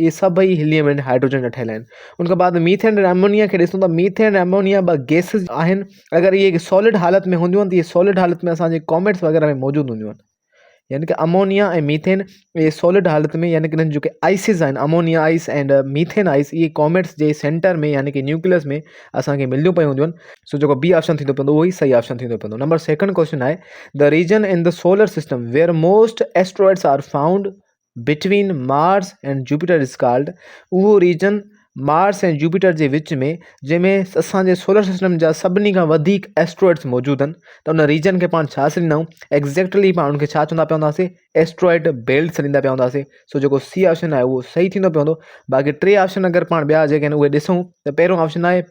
اهي سڀئي helium ۽ hydrogen جا ٺهيل آهن ان کان بعد ميٿين ۽ امونيا کي ڏسون ته ميٿين ۽ امونيا ٻه گيسز آهن اگر اهي سالڊ حالت ۾ هونديون آهن ته اهي سالڊ حالت ۾ اسانجي ڪاميٽس وغيره ۾ موجود هونديون آهن يعني ڪه امونيا ۽ ميٿين اهي سالڊ حالت ۾ يعني ڪه انهن جي آئسز آهن ammonia ice and methane ice اهي ڪاميٽس جي سينٽر ۾ يعني ڪه نيوڪلس ۾ اسانکي ملنديون پيون هونديون آهن سو جيڪو بي آپشن ٿيندو پوندو اهوئي صحيح آپشن ٿيندو پوندو نمبر سيڪنڊ ڪوشچن آهي the region in the solar system where most asteroids are found Between Mars and Jupiter is called اهو ريجن مارس ۽ جوپيٽر جي وچ ۾ جنهن ۾ اسان جي سولر سسٽم جا سڀني کان وڌيڪ ايسٽرائڊس موجود آهن ته ان ريجن کي پاڻ ڇا سڏيندا آهيون ايگزيڪٽلي پاڻ ان کي ڇا چوندا پيا هونداسي ايسٽرائڊ بيلٽ سڏيندا پيا هونداسي سو جيڪو سي آپشن آهي اهو صحيح ٿيندو پيو هوندو باقي ٽي آپشن اگر پاڻ ٻيا جيڪي آهن اهي ڏسون ته پهريون آپشن آهي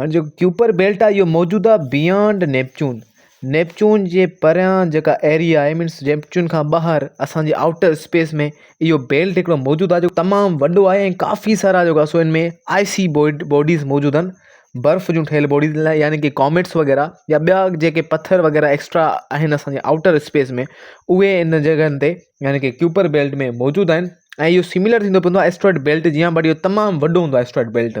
هاڻي جيڪو ڪيوپر بيلٽ آهي اهو موجود آهي بيانڊ نيپچون نيپچون جي پريان جيڪا ايريا آهي مينس نيپچون کان ٻاهر اسانجي آئوٽر اسپيس ۾ اهو بيلٽ هڪڙو موجود آهي جيڪو تمام وڏو آهي ۽ ڪافي سارا جيڪا سو ان ۾ آئي سي بوئڊ بوڊيز موجود آهن برف جون ٺهيل بوڊيز لاء يعني ڪي ڪاميٽس وغيره يا ٻيا جيڪي پٿر وغيره ايڪسٽرا آهن اسانجي آئوٽر اسپيس ۾ اهي ان جڳهن تي يعني ڪي ڪيوپر بيلٽ ۾ موجود آهن ۽ اهو سميلر ٿيندو پوندو آهي اسٽريٽ بيلٽ جيان بٽ اهو تمام وڏو هوندو آهي اسٽريٽ بيلٽ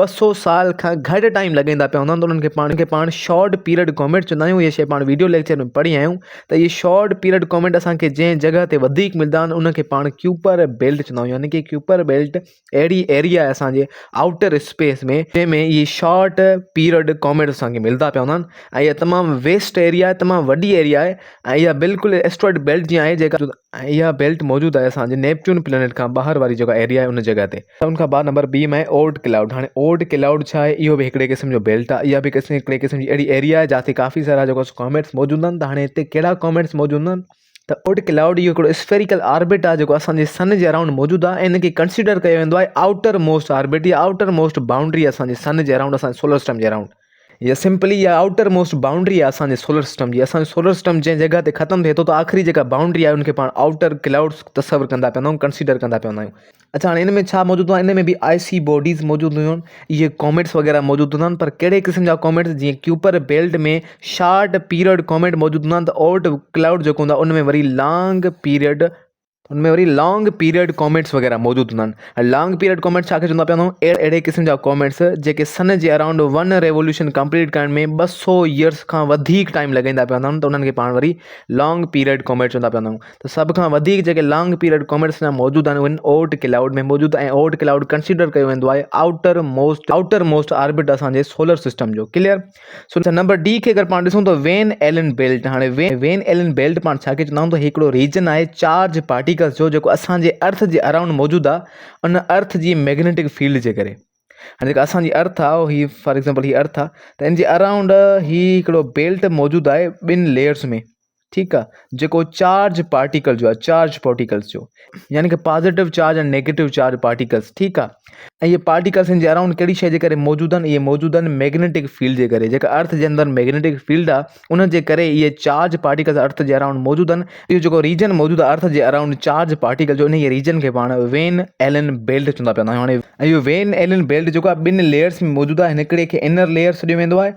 ٻه سؤ سال کان گهٽ ٽائيم لڳائين ٿا پيا هوندا آهن ته انهن کي پاڻ شارٽ پيريڊ ڪامينٽ چوندا آهيون اهي شيء پاڻ ويڊيو ليڪچر ۾ پڙهي آيا آهيون ته اهي شارٽ پيريڊ ڪامينٽ اسان کي جنهن جڳهه تي وڌيڪ ملندا آهن ان کي پاڻ ڪيوپر بيلٽ چوندا آهيون يعنيٰ ڪي ڪيوپر بيلٽ اهڙي ايريا اسانجي آئوٽر اسپيس ۾ جنهن ۾ اهي شارٽ پيريڊ ڪامينٽ اسان کي ملندا پيا هوندا آهن ۽ تمام ويسٽ ايريا آهي تمام وڏي ايريا آهي ۽ اها بلڪل اسٽرائيڊ بيلٽ جيان آهي جيڪا اها بيلٽ موجود آهي اسانجي نيپچون پلينٽ کان ٻاهر واري جيڪا ايريا آهي ان جڳهه تي سڀن کان بعد نمبر بي ۾ آهي اولڊ ڪلائوڊ هاڻي اولڊ ڪلائوڊ ڇا آهي اهو به هڪڙي قسم جو بيلٽ آهي اها به قسم هڪڙي قسم جي اهڙي ايريا آهي جاتي ڪافي سارا جيڪو ڪاميٽس موجود آهن ته هاڻي هتي ڪهڙا ڪاميٽس موجود هوندا آهن ته اولڊ ڪلائوڊ اهو هڪڙو اسفيريڪل آربٽ آهي جيڪو اسانجي سن جي اراؤنڊ موجود آهي ۽ ان کي ڪنسيڊر ڪيو ويندو آهي آئوٽر موسٽ آربٽ يا آئوٽر موسٽ بائونڊري اسانجي سن جي اراؤنڊ اسانجي سولر سسٽم جي اراؤنڊ هيء سمپلي يا آئوٽر موسٽ بائونڊري آهي اسان جي سولر سسٽم جي. اسان جو سولر سسٽم جنهن جڳهه تي ختم ٿئي ٿو ته آخري جيڪا بائونڊري آهي ان کي پاڻ آئوٽر ڪلائوڊز تصور ڪندا پيا هوندا آهيون ڪنسيڊر ڪندا پيا هوندا آهيون. اڇا هاڻي ان ۾ ڇا موجود هوندا آهن ان ۾ به آء سي باڊيز موجود هونديون آهن اهي ڪوميٽس وغيره موجود هوندا آهن پر ڪهڙي قسم جا ڪوميٽس جيئن Kuiper belt ۾ short period comet موجود هوندا آهن ته آئوٽ ڪلائوڊ جيڪو هوندا ان ۾ وري لانگ پيرڊ ان ۾ وري لانگ پيريڊ ڪامينٽس وغيره موجود هوندا آهن ۽ لانگ پيريڊ ڪامينٽس ڇا کي چوندا پيا وڃون اهڙي قسم جا ڪامينٽس جيڪي سن جي اراؤنڊ ون ريولوشن ڪمپليٽ ڪرڻ ۾ ٻه سو يئرس کان وڌيڪ ٽائيم لڳائيندا پيا وڃن ته انهن کي پاڻ وري لانگ پيريڊ ڪامينٽس چوندا پيا وڃون ته سڀ کان وڌيڪ جيڪي لانگ پيريڊ ڪامينٽس اڃا موجود آهن اهن اوٽ ڪلائوڊ ۾ موجود ۽ اوٽ ڪلائوڊ ڪنسيڊر ڪيو ويندو آهي outermost outermost orbit اسان جي سولر سسٽم جو ڪليئر سو نمبر ڊي کي اگر پاڻ ڏسون ته وين ايلن بيلٽ هاڻي وين ايلن بيلٽ پاڻ ڇا کي چوندا آهيون ته هي هڪڙو ريجن آهي چارج پارٽيڪلز جو جيڪو اسان جي ارٿ جي اراؤنڊ موجود آهي ان ارٿ جي ميگنيٽڪ فيلڊ جي ڪري هاڻي جيڪا اسان جي ارٿ آهي هي فار ايگزامپل هي ارٿ آهي ته ان جي اراؤنڊ هي هڪڙو بيلٽ موجود آهي ٻن ليئرز ۾ ٺيڪ آ جيڪو چارج پارٽيڪل جو آ چارج پارٽيڪلس جو يعني ڪي positive charge ۽ negative charge particles ٺيڪ آ ۽ اهي پارٽيڪلس جي اراؤنڊ ڪهڙي شي جي ڪري موجود آهن اهي موجود آهن ميگنيٽڪ فيلڊ جي ڪري جيڪا ارٿ جي اندر ميگنيٽڪ فيلڊ آ ان جي ڪري اهي چارج پارٽيڪلس ارٿ جي اراؤنڊ موجود آهن اهو جيڪو ريجن موجود آ ارٿ جي اراؤنڊ چارج پارٽيڪل جو انهي ريجن کي پاڻ وين ايلن بيلٽ چوندا پيا هاڻي اهو وين ايلن بيلٽ جيڪو آ ٻن ليئرس ۾ موجود آ هن هڪڙي کي انر ليئر سڏيو ويندو آهي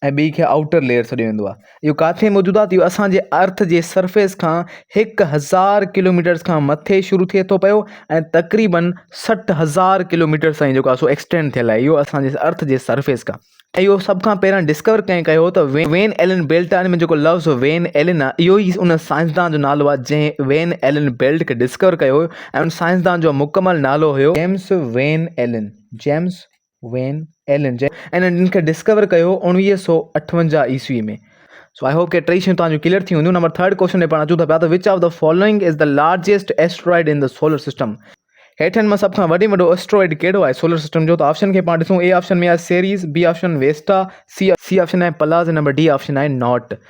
۽ ٻي کي آئوٽر ليئر سڏيو ويندو آهي. اهو ڪاٿي موجود آهي ته اهو اسان جي ارٿ جي سرفيس کان هڪ هزار ڪلوميٽرز کان مٿي شروع ٿئي ٿو پيو ۽ تقريبن سٺ هزار ڪلوميٽرز تائين جيڪو آهي سو ايڪسٽينڊ ٿيل آهي اهو اسان جي ارٿ جي سرفيس کان ۽ اهو سڀ کان پهريان ڊسڪور ڪنهن ڪيو هو ته وين ايلن بيلٽ آهي ان ۾ جيڪو لفظ وين ايلن آهي اهو ئي ان سائنسدان جو نالو آهي جنهن وين ايلن بيلٽ کي ڊسڪور ڪيو هو ۽ ان سائنسدان جو مڪمل نالو هيو James Van Allen James Van Allen جي ان ان کي ڊسڪور ڪيو هو اوڻويهه سؤ اٺونجاهه عيسوي ۾ سو آء هوپ ڪي ٽئي شيون توهان جون ڪليئر ٿي هونديون نمبر ٿرڊ ڪوشچن ڏي پاڻ اچون ٿا پيا ته which of the following is the largest asteroid in the solar system هيٺن مان سڀ کان وڏي ۾ وڏو ايسٽرائڊ ڪهڙو آهي سولر سسٽم جو ته آپشن کي پاڻ ڏسون اي آپشن ۾ آهي Ceres B option Vesta C C option آهي پلاز نمبر ڊي آپشن آهي ناٽ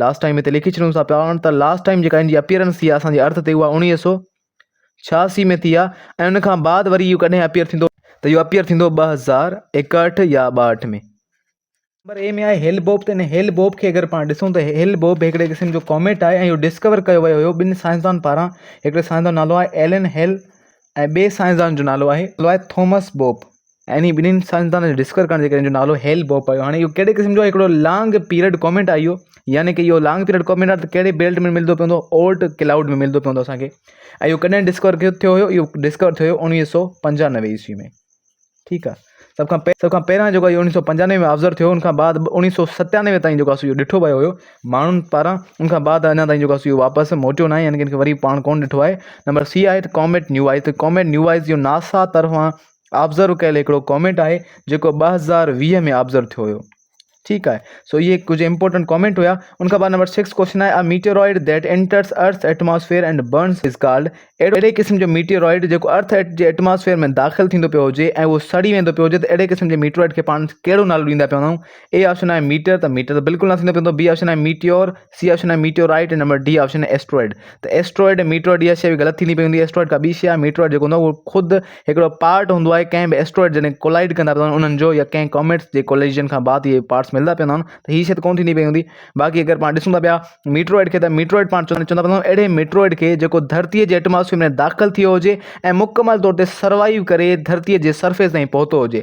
لاسٽ ٽائيم هتي لکي ڇڏيون ٿا پيا ته لاسٽ ٽائيم جيڪا هنجي اپيئرنس ٿي آهي اسان جي ارٿ تي اها اڻويهه سو ڇياسي ۾ ٿي آهي ۽ ان کان بعد وري اهو ڪڏهن اپيئر ٿيندو ته اهو اپيئر ٿيندو ٻه هزار ايڪهٺ يا ٻاهٺ ۾ نمبر اي ۾ آهي هيل بوب ته هن هيل بوب کي اگر پاڻ ڏسون ته هيل بوب هڪڙي قسم جو ڪاميٽ آهي ۽ اهو ڊسڪور ڪيو ويو هيو ٻن سائنسدان پاران هڪڙي سائنسدان نالو آهي ايلن هيل ۽ ٻي سائنسدان جو نالو آهي الائي ٿومس بوپ ۽ انهي ٻنهين سائنسدانن جي ڊسڪور ڪرڻ جي ڪري ان جو نالو هيل بوپ پيو هاڻي اهو ڪهڙي قسم جو هڪڙو لانگ پيرڊ ڪوميٽ آهي اهو يعني ڪي اهو لانگ پيرڊ ڪوميٽ آهي ته ڪهڙي بيلٽ ۾ ملندو پوندو اولٽ ڪلائوڊ ۾ ملندو پوندو اسانکي ۽ اهو ڪڏهن ڊسڪور ڪيو ٿيو هيو اهو ڊسڪور ٿيو هيو اڻويهه سو پنجانوي عيسوي ۾ ٺيڪ آ سڀ کان پهرين سڀ کان پهريان جيڪو اهو اوڻيهه سؤ پنجانوي ۾ آبزرو ٿيو ان کان بعد اوڻيهه سؤ ستيانوي تائين جيڪو سو اهو ڏٺو ويو هيو ماڻهن پاران ان کان بعد اڃا تائين جيڪو سو اهو واپس موٽيو ناهي يعنيٰ ڪي ان کي وري پاڻ ڪون ڏٺو آهي نمبر سي آهي ته ڪاميٽ نيوائز ته ڪاميٽ نيوائز جو ناسا طرفان آبزرو ڪيل هڪڙو ڪاميٽ آهي جيڪو ٻه هزار ويهه ۾ آبزرو ٿيو هيو ٺيڪ آهي سو اهي ڪجهه امپورٽنٽ ڪامينٽ هيا ان کان بعد نمبر سڪس ڪوشچن آهي a meteoroid that enters earth atmosphere and burns is called اهڙي قسم جو ميٽيورائڊ جيڪو ارٿ جي ايٽماسفيئر ۾ داخل ٿيندو پيو هجي ۽ اهو سڙي ويندو پيو هجي ته اهڙي قسم جي ميٽيورائڊ کي پاڻ ڪهڙو نالو ڏيندا پيو هوندائون اي آپشن آهي ميٽر ته ميٽر ته بلڪل نه ٿيندو پيو هوندو بي آپشن آهي ميٽيور سي آپشن آهي ميٽيورائٽ ۽ نمبر ڊي آپشن آهي ايسٽرائڊ ته ايسٽرائڊ ۽ ميٽيورائٽ اها شيء غلط ٿيندي پئي هوندي ايسٽرائڊ ڪا ٻي شيء آهي ميٽيورائٽ جيڪو هوندو آهي خود هڪڙو پارٽ هوندو آهي ڪنهن به ايسٽرائڊ جڏهن ڪولائڊ ڪندا پيا هلن انهن جو يا ڪنهن ڪاميٽس جي ڪوليجن کان بعد اهي پارٽس ملندا پيا هوندا آهن ته هي شيء ته ڪونه ٿيندي پئي هوندي باقي اگر پاڻ ڏسون ٿا پيا ميٽيورائٽ کي ته ميٽيورائٽ پاڻ چوندا چوندا پيا هلون اهڙي ميٽيورائٽ کي جيڪو ڌرتيء جي ايٽماسفيئر ۾ داخل ٿيو هجي ۽ مڪمل طور تي سروائيو ڪري ڌرتيء جي سرفيس تائين پهتو هجي